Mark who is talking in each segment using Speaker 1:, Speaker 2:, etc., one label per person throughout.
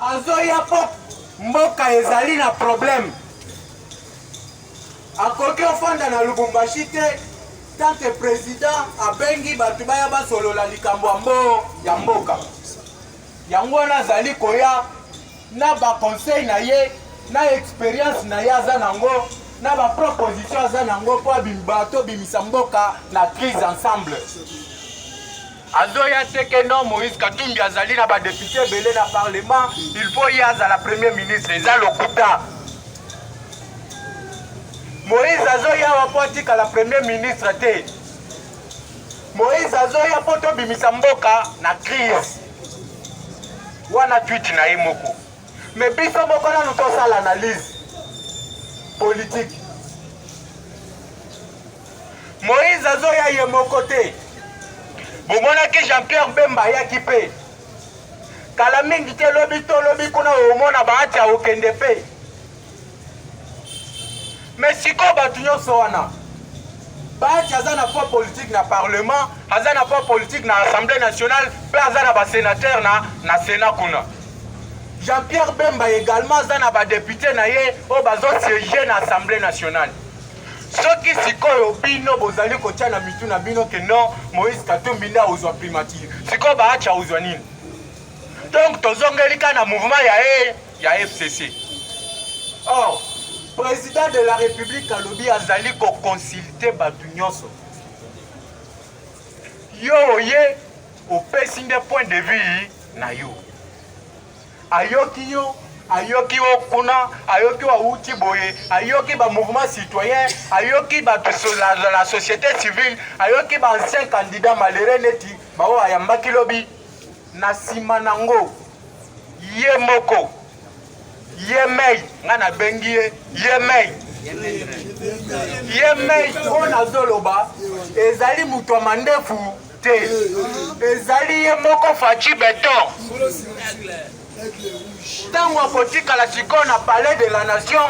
Speaker 1: Azoya po mboka ezali na problème. Akoki ofanda na Lubumbashi te tant que président abengi bato baya basolola likambo ya mbo ya mboka. Yango wana azali koya na ba conseil na ye na experience na ye aza nango na ba proposition aza nango mpo bato bimisa mboka na crise ensemble. azoya te ke non moïse katumbi azali na badepute ebele na parlement il faut ye azala premier ministre eza lokuta moïse azoya wa mpo atikala premier ministre te moïse azoya mpo tobimisa mboka na crise wana twiti na ye moko me biso moko nanu tosala analyse politike Moïse azoya ye moko te. Bomonaki Jean-Pierre Bemba ayaki mpe kala mingi te, lobi to lobi kuna omona bahati akokende mpe me sikoyo bato nyonso wana bahati aza na poids politique na parlement, aza na poids politique na assemblée nationale mpe aza na basenateur na, na sena kuna. Jean-Pierre Bemba également aza na badepute na ye oyo bazosiege na assemblée nationale. soki sikoyo bino bozali kotya na mitu na bino ke non moïse katumbi nde akozwa primature sikoyo baacha ozwa nini donc tozongeli ka na mouvement ya e ya fcc or oh, président de la république alobi azali koconsulte bato nyonso yo oye opesi nde point de vue na yo ayoki yo ayoki yo kuna ayoki awuti boye ayoki ba mouvement citoyen ayoki bato la, la, la société civile ayoki ba ancien candidat malere neti baoyo ayambaki lobi na nsima nango ye moko ye mei ngai nabengi ye ye mei ye mei oyo nazoloba ezali moto ya mandefu te ezali ye moko faci beton ntango akotikala sikoyo na palais de la nation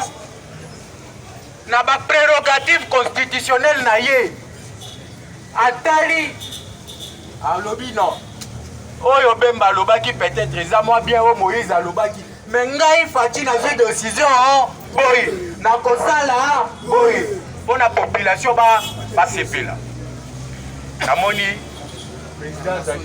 Speaker 1: na baprerogative constitutionnelle na ye atali alobi non oyo bemba alobaki peut-être eza mwa bien oyo moïse alobaki me ngai faci nazwi decision boye nakosala boye mpo na population basepela namoni président azali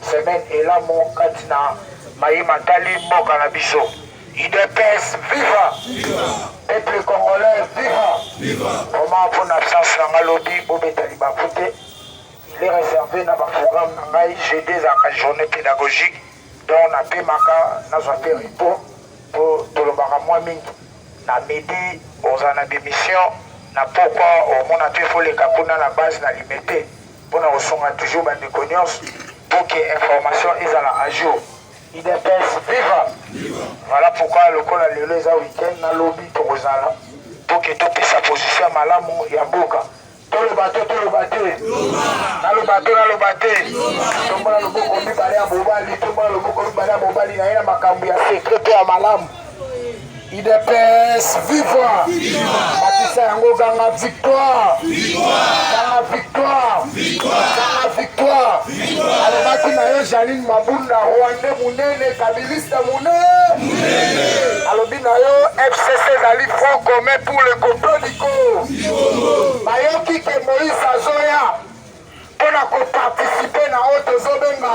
Speaker 2: Semaine elamu kati na maye matali mboka na biso. Udps viva! Peuple congolais viva! Vraiment mpo na absence na ngai lobi bobeta libaku te. Il est réservé na ba programme na ngai jeudi ezalaka journée pédagogique donc napemaka nazwa mpe repos mpo tolobaka mwa mingi na midi ozala na bemission na pokwa omona mpe foleka kuna na base na limete pona kosunga toujours ba ndeko nionso pour que information ezala à jour. Udps viva! Voilà pourquoi lokola lelo eza week-end na lobi tokozala pour que topesa position ya malamu ya mboka. Toloba to toloba te. Naloba to naloba te. Tombola loboko mibale ya mobali, tombola loboko mibale ya mobali na ye na makambo ya secret pe ya malamu. Udps viva! Bakisa yango ganga victoire! Ganga victoire! Ganga victoire! Alobaki na yo Janine Mabunda Rwande munene kabiliste munene. Alobi na yo FCC ezali front commun pour le complot du Congo. Bayoki ke Moïse azoya mpo na koparticipe na oyo tozobenga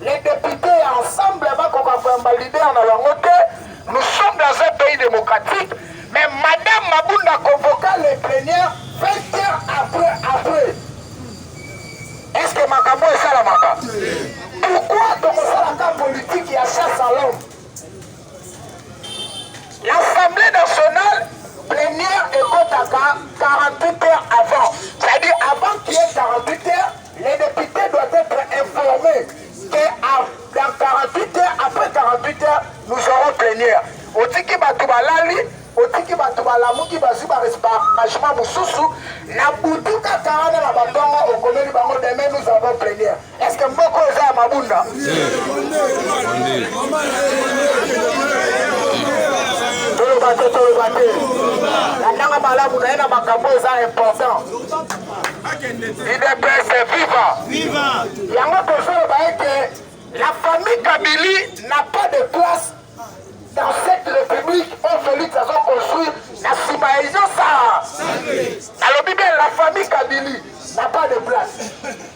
Speaker 2: Les deputes ya ensemble bakoka koyamba leader na bango te. Nous sommes dans un pays démocratique, mais Madame Mabunda convoqua les plénières 20 heures après après. Est-ce que makambo esalamaka? Pourquoi tokosalaka politique ya chasse à l'homme? L'Assemblée nationale plénière ekotaka 48 heures avant. C'est-à-dire avant qu'il y ait 48 heures, les députés doivent être informés que dans 48 heures, après 48 heures, nous aurons plénière. Otiki bato balali, otiki bato balamuki bazwi barangement mosusu na butu kaka wana na batongo okomeli bango demain nous avons plénière. Est-ce que moko eza ya mabunda? Toloba te, toloba te. Natanga malamu na ye na makambo eza important. UDPS viva! Viva! Yango tozoloba ete la famille Kabili n'a pas de place Dans cette république oyo Felix azo construire na sima ya izo saa nalobi bien la famille kabili na pas de place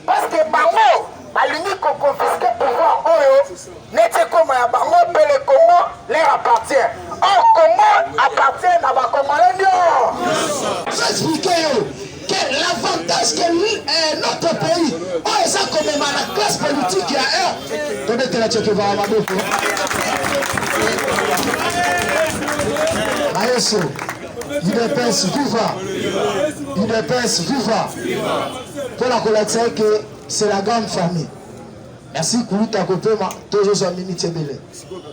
Speaker 2: parce que bango balingi koconfiske pouvoir oyo neti ekoma ya bango mpe le congo leur appartient or congo appartient na bacongolais
Speaker 3: nio que l'avantage que euh, notre pays oyo oh, eza komema na classe politique ya heure tobetela cekevaa maboko ayeso udps viva udps viva mpona kolakisa ye ke c'est la grande famille merci kuluta kopema tozozwa minute ebele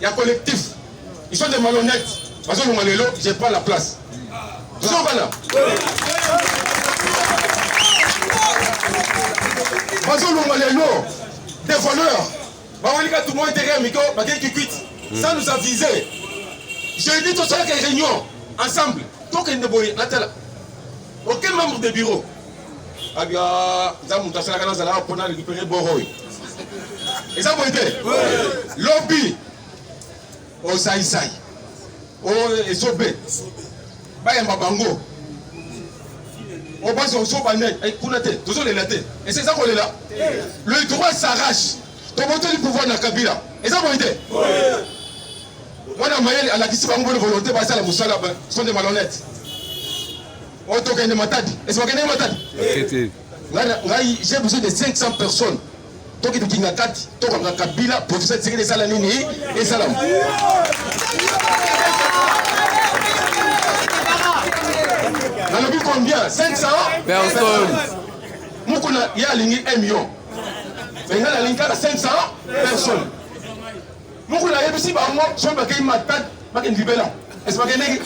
Speaker 4: ya collectif ils sont des malhonnêtes bazolonga lelo je prends la place biso bana bazolonga lelo des voleurs bawelika tout moi intérêt miko bakei kikwit ça nous a visé je dis tosalaka réunion ensemble tokende boye natala aucun membre de bureau abia za moto asalaka nazalaka mpo na récupérer boroy eza boye te lobi osaisai o esobe bayamba bango obasi osoba nde eh, kuna te tozolela te esi eza kolela le droit s'arrache tobotoli pouvoir na kabila eza boye te mwana mayele alakisi bango boni volonté basala mosala sonde malhonnête oyo tokende matadi esi bakende matadi ngai j'ai besoin de 500 personnes tokende kinga kati tokanga kabila professeur tshisekedi esala nini esalama nalobi combien 500 personnes mokuna ye alingi 1 million engai nalingi kaka 500 personnes Mukuna ayebisi bango soki bakei matadi bakende libela esi bakendeki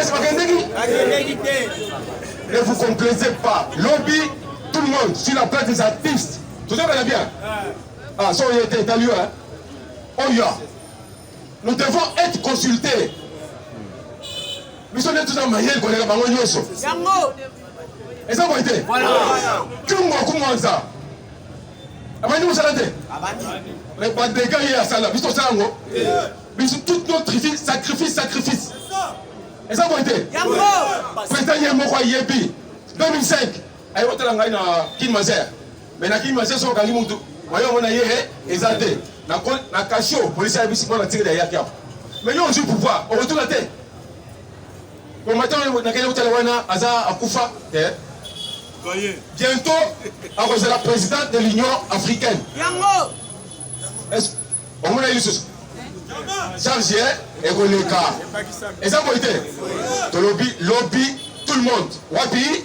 Speaker 4: esi bakendeki ne vous complaisez pas lobi tout le monde sur la place des artistes tozobela bien ah so oye te etali yo oyo nous devons être consultés biso nde toza mayele koleka bango nyonso eza boye te tungu akumwanza abandi mosala te mais badega ye asala biso tosala yango biso toute notre vie sacrifice sacrifice eza boye te président ye moko ayebi 2005 aye kotala ngai na kin mazer mais na kin mazer so okangi motu mayo yango na ye eh, eza te na kasio polisi ayebisi mpo na tikeli ayaki apo mais yo ozwi pouvoir okotola te Combattant nakende kotala wana aza akufa eh. Bientôt akozala présidente de l'Union africaine. Yango. Est-ce omona ye lisusu? Charge eh, ekoleka. Eza boye te. Tolobi lobi tout le monde. Wapi?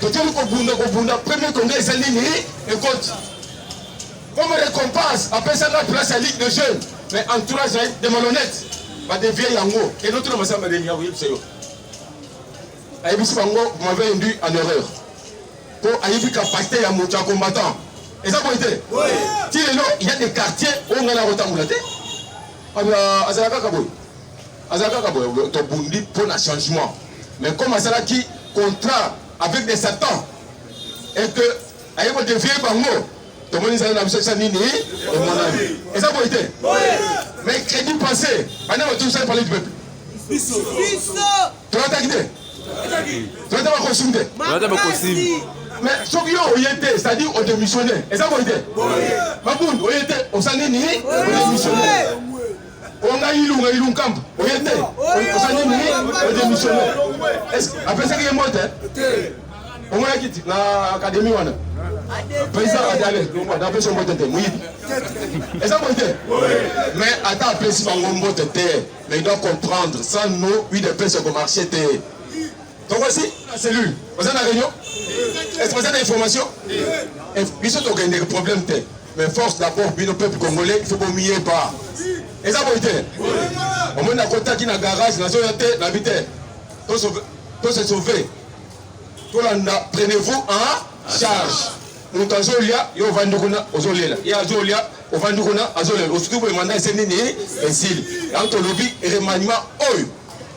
Speaker 4: totali kobunda kobunda premier conga eza nini ekoti comme récompense apesa nga place ya ligue de jeune mais entourage ya de malhonnête badevie yango enotuna masamba deni akoyebisa yo ayebisi bango m'avait induit en erreur mpo ayebi kapasité ya moto ya combattant eza boye te ti lelo ya de quartier oyo ngai nakotambola te azala kaka boye Aza kaka boye to bundi pour na changement. Mais comme asalaki contrat avec des satans et que aye ko dévier bango tomoni nzala na biso sa nini emonani eza boye te mais crédit passé bana batusali parler du peuple tolataki te tolata bakosimi te tolata bakosimi mais soki yo oye te c'est-à-dire odémissionne eza boye te mabundu oye te osali nini odémissionne onga ilunga ilunkambu oye te ozali nini odemissione apesaki ye mbote omonaki ti na akademi wana président adale napesi yo mbote te moyibi eza boye te mais ata apesi bango mbote te mais il doit comprendre sans nous udps ekomarche te tokosi na cellule oza na réunion est ce que oza na information biso tokendeke problème te Mais force d'abord bino peuple congolais faut bomiyeba eza boye te omoni nakotaki na garage nazoya te nabi te to se sauve tolanda prenez vous en charge moto azolia yo ovandi kuna ozolela ye azolia ovandi kuna azolela osuki boye manda ese nini esili yango tolobi remaniement oyo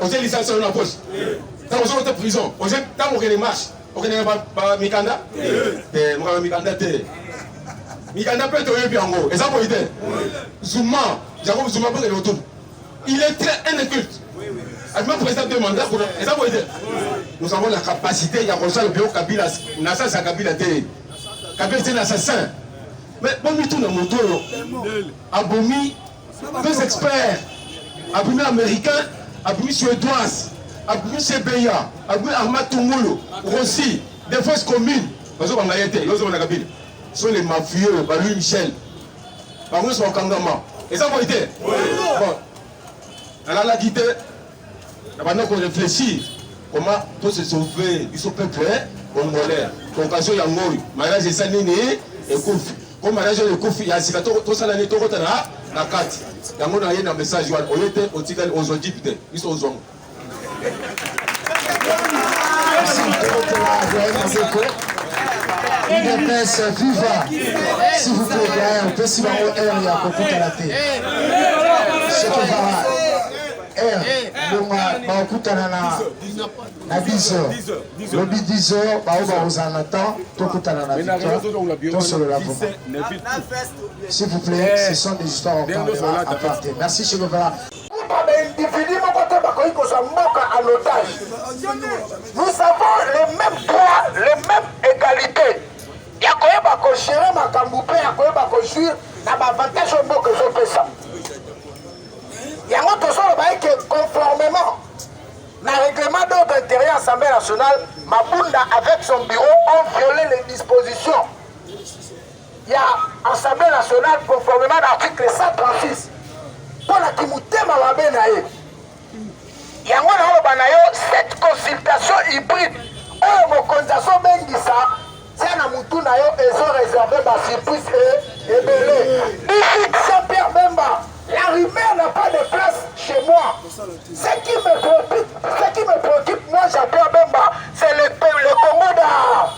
Speaker 4: otie licence oyo na poche ntango ozoko te prison otie ntango okende marche okendeke mikanda te mokanga mikanda te mikanda mpe toyebi yango eza boyi te zuma jacob zuma mpe kende otubu il est très inculte abima président de mandat kuna eza boyi te nous avons la capacité ya kosala bio kabila na sasa ya kabila te kabila te na assassin mais bomituna moto oyo abomi Deux experts abimi américain abimi suédoise abimi sebeya abimi arma tungulu rosi defense commune bazobanga ye te yozobana kabila so les mafieux ba louis michel bango nyonso bakangama eza boye te bon nalalaki te Na banda ko reflechir comment to se sauver biso peuple congolais. Concassion ya ngoi mariage esa nini ekufi ko mariage oyo ekufi ya sika tosala nini tokota na na kati yango na ye na message wana oye te otikali ozwa jipe te biso ozwango
Speaker 3: udps viva si vous plaît opesi bango heure ya kokutana te soki vara longa bakutana na na 10 heures lobi 10 heures bao bakozala na temps tokutana na victoire tosolola s'il vous plaît ce sont des histoires on parlera à part merci chez Lovela individu moko te bakoki kozwa mboka à
Speaker 2: l'otage nous avons les mêmes droits les mêmes égalités ya koyeba kogere makambo mpe ya koyeba kojuire na baavantage oyo mboka ezopesa yango tozoloba eke conformément na règlement d'ordre intérieur assemblée nationale mabunda avec son bureau ont violé les dispositions ya assemblée nationale conformément na article 136 mpo na kimotema mabe na ye yango naoloba na yo cette consultation hybride oyo mokonzi azobengisa Tia na mutu na yo ezo reserve ba surprise e ebele. Big Saint Pierre Bemba, la rumeur n'a pas de place chez moi. Ce qui me préoccupe, ce qui me préoccupe moi Jean Pierre Bemba, c'est le, le Congo da.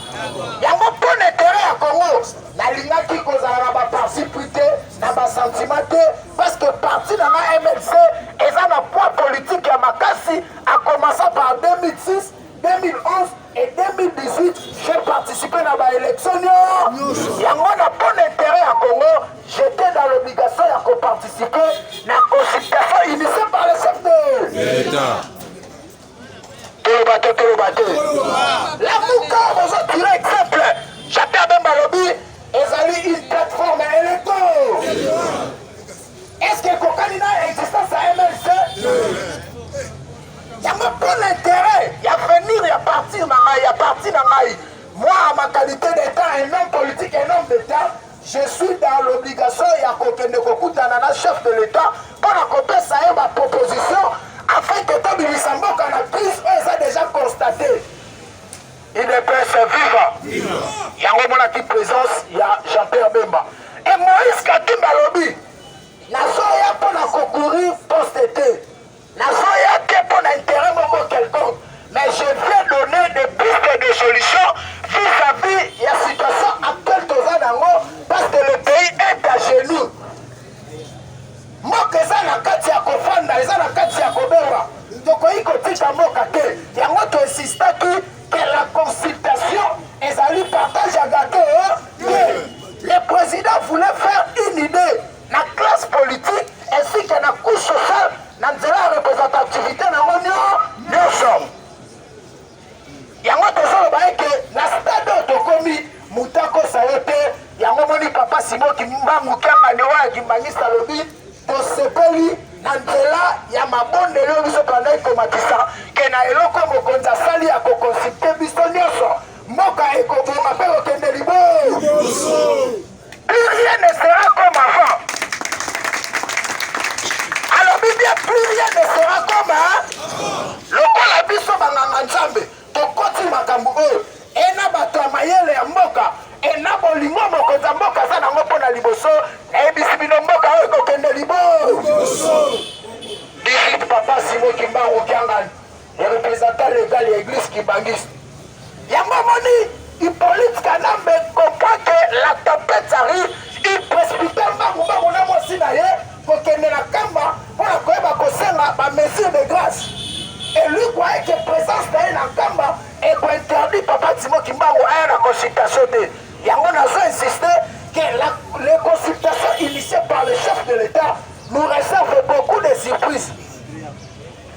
Speaker 2: Yango mpo na intérêt ya Congo, nalingaki kozala na ba parti pris te, na ba sentiment te, parce que parti na nga MLC eza na poids politique ya makasi, a commencer par 2006 2011 et 2018 j'ai participé na ba élection nyonso yango na bon intérêt ya congo j'étais dans l'obligation ya koparticiper na consultation initiée par le chef de l'état toloba te toloba te lamuka bozo tire exemple jacques abemba alobi ezali une plateforme électo Est-ce que ekokani na existence ya MLC? Yango mpo na intérêt ya avenir ya parti na ngai ya parti na ngai moi à ma qualité d'état un homme politique un homme d'état je suis dans l'obligation ya kokende kokutana na chef de l'état mpo na kopesa ye baproposition afin que tobimisa mboka na crise oyo eza déjà constate Udps viva. Yango monaki presence ya Jean-Pierre Bemba. Et Moïse Katumba alobi nazoya mpo na kokurir poste te. Nazoya te mpo na intérêt moko quelconque. Mais je viens donner des pistes de solutions vis-à-vis -vis ya situation actuelle toza nango parce que le pays est à genoux. Mboka eza na kati ya kofanda, eza na kati ya kobonga. Tokoki kotika mboka te, yango to insistaki que la consultation ezali partage ya gateau te. Le president voulait faire une idee na classe politique ainsi que na couche sociale na nzela ya representativité na yango nyonso. yango tozoloba ete na stade oyo tokomi moto akosa ye te yango moni papa simo kimbangu kiangani oyo ya kimbanguiste alobi tosepeli na nzela ya mabondeli oyo biso tolandaki komatisa ke na eloko mokonzi asali ya kokonsulte biso nyonso mboka ekobonga mpe kokende liboso Plus rien ne sera comme avant. Alobi bien plus rien ne sera comme lokola biso banganga Nzambe tokoti makambo oyo ena bato ya mayele ya mboka ena bolingo mokonzi ya mboka aza nango mpo na liboso nayebisi bino mboka oyo ekokende libo 18 papa simo kimbangu kiangani ya representant legal ya eglise kibangiste yango omoni ipolite kanambe kokake la tempete arrive iprespite mbangu mbangu na mwasi na ye kokende na kamba mpo na koyeba kosenga bamesure de grâce elukwa eke présence na ye na kamba ekointerdit papa timo kimbangu aya na consultation te yango nazo insiste que la, les consultations initiées par le chef de l'état nous réserve beaucoup de surprises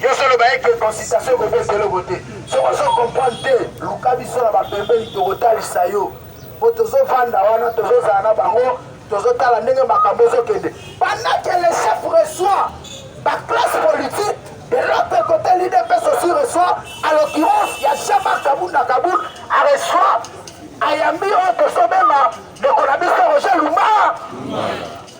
Speaker 2: Yo solo ba eke consultation ko bete eloko te. Soko ozo comprendre te, luka biso na ba pembeni toko talisa yo. Po tozo vanda wana, tozo zala na bango, tozo tala ndenge makambo ezo kende. Pendant que le chef reçoit ba classe politique de l'autre côté l'UDPS aussi reçoit à l'occurrence ya Shama Kabunda Kabund a reçoit ayambi oyo tozo benga ndeko na biso Roger Lumba.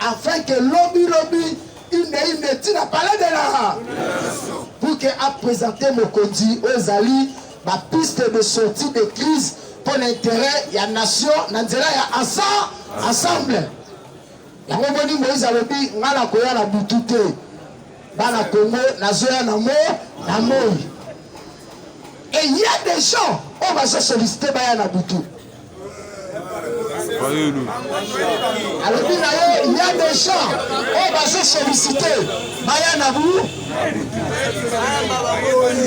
Speaker 3: afin que lobi lobi inde inde ti na palais de la pour que apresente mokonzi oyo ezali bapiste de sortie de crise mpo na intérêt ya nation na nzela ya asa ensemble yango moni moïse alobi ngai nakoya na butu te bana congo nazoya na mo na moi et ya des gens oyo bazosoliste baya na butu alobi na ye ya deja oyo bazo solicite baya na bu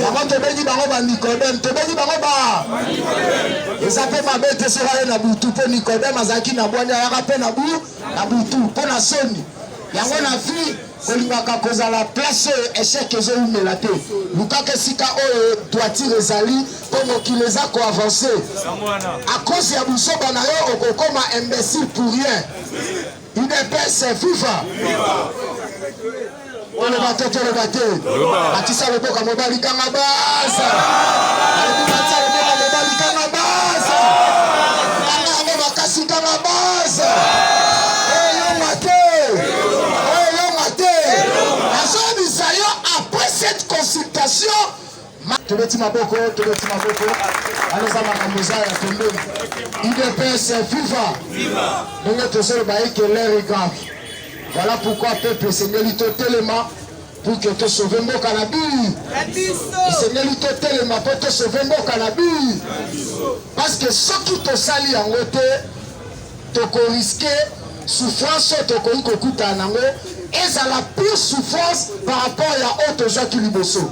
Speaker 3: yango tobengi bango ba nicodeme tobengi bango ba eza mpe mabe te soki aye na butu mpo nicodeme azalaki na bwani ayaka mpe na bu na butu mpo na soni yango na vie olingaka kozala place oyo echec ezowumela te lukaka esika oyo toitire ezali mpo mokili eza koavanse akosi ya busoba na yo okokoma imbécile pour rien udps fifa oloba te toloba te atisa loboka mobali kanga basa elonga te azoyebisa yo après cette consultation tobeti maboko tobeti maboko wana eza makambo eza ya pembeni idps fifa ndenge tozoloba eke leri grave voilà pourquoi peuple esengeli totelema Pour que to sauver mboka na biyi. Esengeli to telema po to sauver mboka na biyi. Parce que soki tosali yango te, toko risquer souffrance oyo tokoki kokutana nango ezala pure souffrance par rapport ya oyo tozwaki liboso.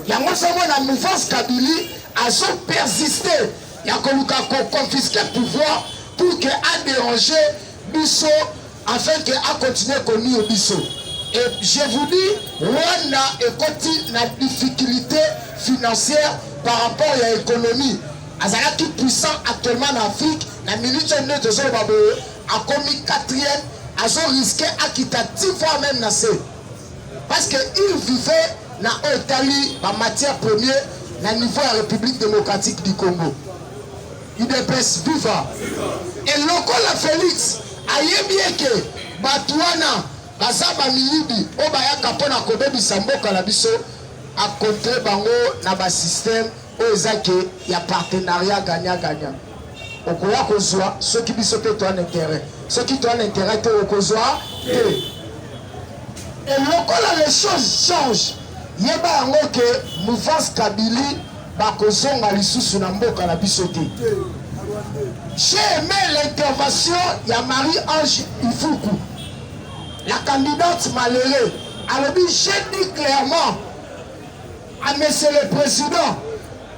Speaker 3: Yango ozomona mouvance Kabili azo persister ya koluka ko confisquer pouvoir pour que a déranger biso Afin que a continuer ko nuire biso et je vous dis Rwanda ekoti na difficulté financière par rapport ya économie azalaki puissant actuellement na Afrique na minute oyo nde tozoloba boye akomi quatrième azo risque akita ti fois même na se parce que il vivait na oyo etali ba matière premier na niveau ya république démocratique du congo Udps viva et lokola Felix ayebi eke bato wana baza bamiyibi oyo bayaka mpo na kobebisa mboka na biso akontre bango na basysteme oyo eza ke ya partenariat gagna gagna okoya kozwa soki biso mpe toa na interet soki toa na interet te okozwa te elokola les choses change yeba yango ke mouvance kabili Bakozonga lisusu na mboka na biso te. J'ai aimé l'intervention ya Marie-Ange Ifuku, la candidate malheureux. Alobi, j'ai dit clairement à Monsieur le Président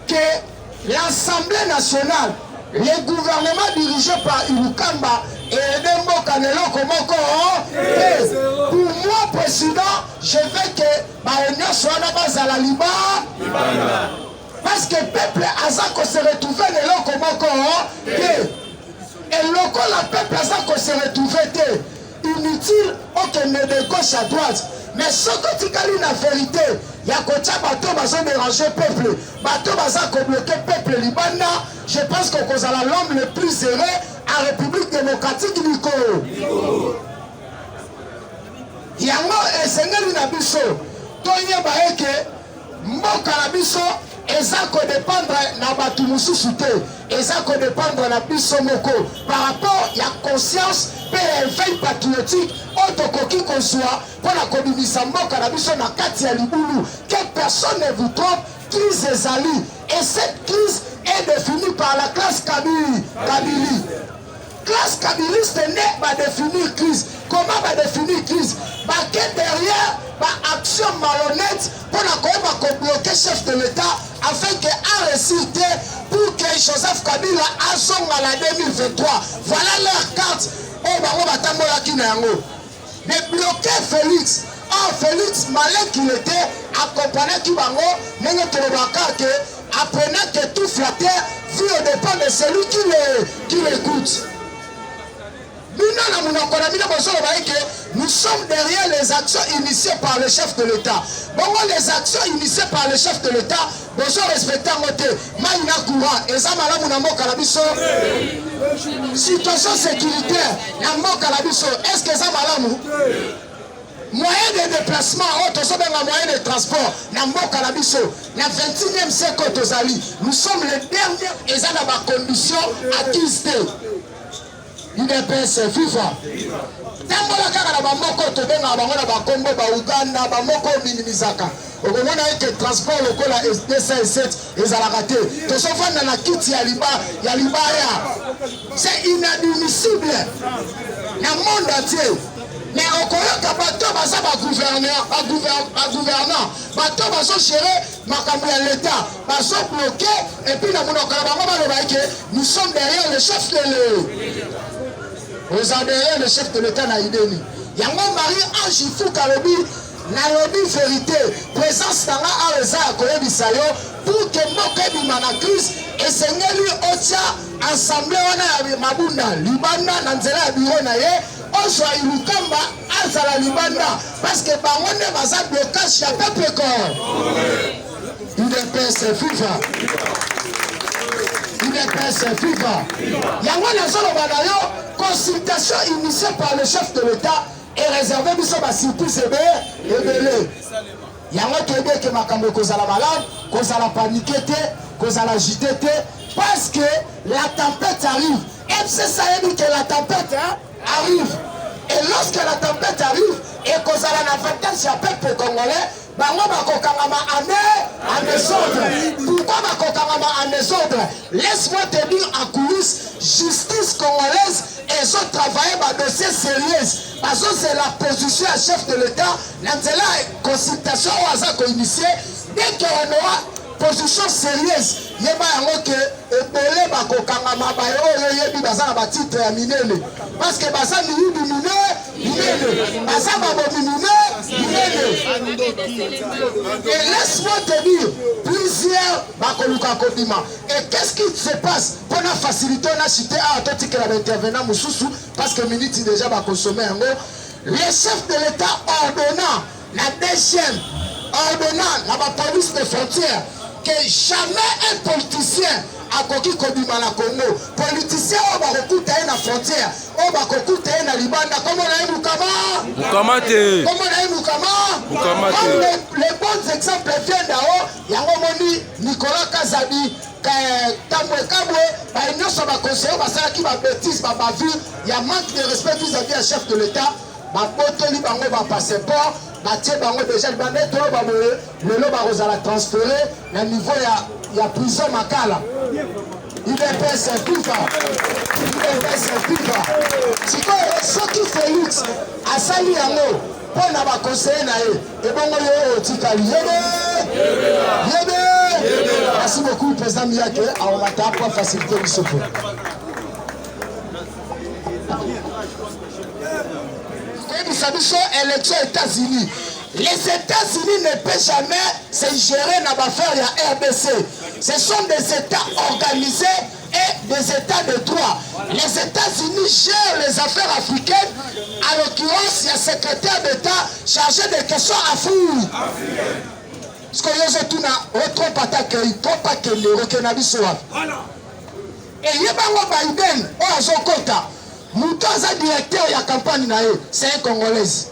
Speaker 3: que l'Assemblée nationale, le gouvernement dirigé par Ilukamba, eyede mboka na eloko moko te. Pour moi, Président, je veux que Baye nionso wana bazala liba libanda. Parce que peuple aza ko se retrouver na eloko moko te. Et lokola peuple aza ko se retrouver te, inutile okende de gauche à droite. Mais soki otikali na verite ya kotya bato bazo déranger peuple, bato baza ko bloquer peuple libanda, je pense que okozala l'homme le plus heureux à République démocratique du Congo. Yango esengeli na biso toyeba ete mboka na biso eza kodependre na bato mosusu te, eza kodependre na biso moko par rapport ya conscience mpe ya eveil patriotique oyo tokoki kozwa mpo na kobimisa mboka na biso na kati ya libulu. Que personne ne vous trompe, crise ezali et cette crise est définie par la classe Kabili, Kabili. Classe kabiliste nde ba definir crise. Comment ba definir crise? Bake derrière ba action malhonnête mpo na koyeba ko bloquer chef de l'État afin que a réussir te pour que Joseph Kabila azonga na 2023. Voilà leur carte oyo bango batambolaki na yango. Mais bloquer Felix or Felix malin qu'il était accompagnaki bango ndenge tolobaka ke apprenant que tout flatteur vit au dépend de celui qui le qui l'écoute bino na monoko na bino bozoloba eke nous sommes derrière les actions initiées par le chef de l'état bongo les actions initiées par le chef de l'état Bozo respecte yango te. Mai na courant eza malamu na mboka na biso? Situation securitaire na mboka na biso est-ce que eza malamu? Moyen de déplacement oyo tozobenga moyen de transport na mboka na biso na 21e siècle oyo tozali, nous sommes le dernier eza na ba conditions acquise te. udps viva tambola kaka na bamoko tobengaka bango na bakombo ba uganda bamoko ominimisaka okomona ete transport lokola 207 ezalaka te tozofanda na kiti ya liba ya libaya c'est inadmissible na monde entier me okoyoka bato baza bagouverneur bagouverneur bato bazogere makambo ya leta bazo bloke epuis na monoko na bango baloba eke nous sommes derrière le chef de le oza derrière le chef de l'etat na ideni yango marie ange ifuka alobi nalobi verité présence na nga awa eza ya koyebisa yo pour que mboka ebima na crise esengeli otya ensemble wana ya mabunda libanda na nzela ya biro na ye ozwa ilukamba azala libanda parce que bango nde baza blocage ya peuple corps udps fifa udps fifa yango nazoloba na yo consultation initiée par le chef de l'état ereserve biso basirprise ebe ebele yango toyebi ete makambo ekozala malamu kozala panike te kozala jite te parce que la tempête arrive mcc ayebi ke la tempête hein? arrive et lorsque la tempête arrive ekozala na avantage ya peuple congolais bango bakokangama ane en desordre pourquoi bakokangama en desordre laisse-moi te dire en coulisse justice congolaise ezotravaille badossier sérieuse bazozela position ya chef de l'état na nzela ya consultation oyo aza koinitie dès que on aura position serieuse yeba yango ke ebele bakokangama baye oyo oyebi baza na batitre ya minene parceke baza miyibi mine minene baza babomi mine minene et laisse-moi te dire plusieurs bakoluka kobima et qu'est-ce qui se passe mpo na facilité na chite awa totikela baintervenant mosusu parceke miniti déjà bakosome yango le chef de l'état ordonna La DGM ordonna na ba police de frontière que jamais un politicien akoki kobima na Congo. Politicien oyo bakokuta ye na frontière, oyo bakokuta ye na libanda, kombo na ye Mukama. Mukama te. Kombo na ye Mukama. Mukama te. Comme les, les bons exemples viennent d'en haut, yango moni Nicolas Kazadi ntango ekabwe baye nyonso baconseiller basalaki babetise babavure ya manque de respect vis-à-vis ya chef de l'état babotoli bango ba passeport batie bango deja libanda eto oyo baboye lelo bakozala transfere na niveau ya, ya prison makala udps kufa udps kufa sikoyo soki felix asali yango mpo na bakonseye na ye ebongo yo otikali yebe yebe merci beaucoup président miyake aomata mpo facilité biso mpo koyebisa biso élection états-unis les états-unis ne peut jamais se gérer na baaffaire ya rdc ce sont des états organisés et des états de droit les états-unis gèrent les affaires africaines à l'occurrence ya secrétaire d'état chargé des questions afrique sikoyo ozotuna otrompe ata kei kompa kende okenda biso wapi Eyeba ngo Biden oyo azo kota mutu aza directeur ya campagne na ye c'est un congolaise.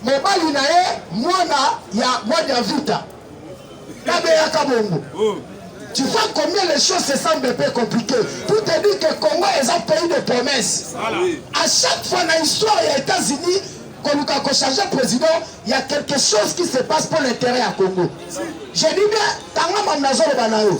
Speaker 3: Mobali na ye mwana ya mwana ya vita. Kabeya Kabongo. Oh. Tu vois combien les choses se semblent un peu compliquées. Pour te dire que Congo est un pays de promesses. Voilà. À chaque fois dans l'histoire, il y a États-Unis, quand nous avons changé le président, il y a quelque chose qui se passe pour l'intérêt à Congo. Je dis bien, Tangama Nazoro Banao.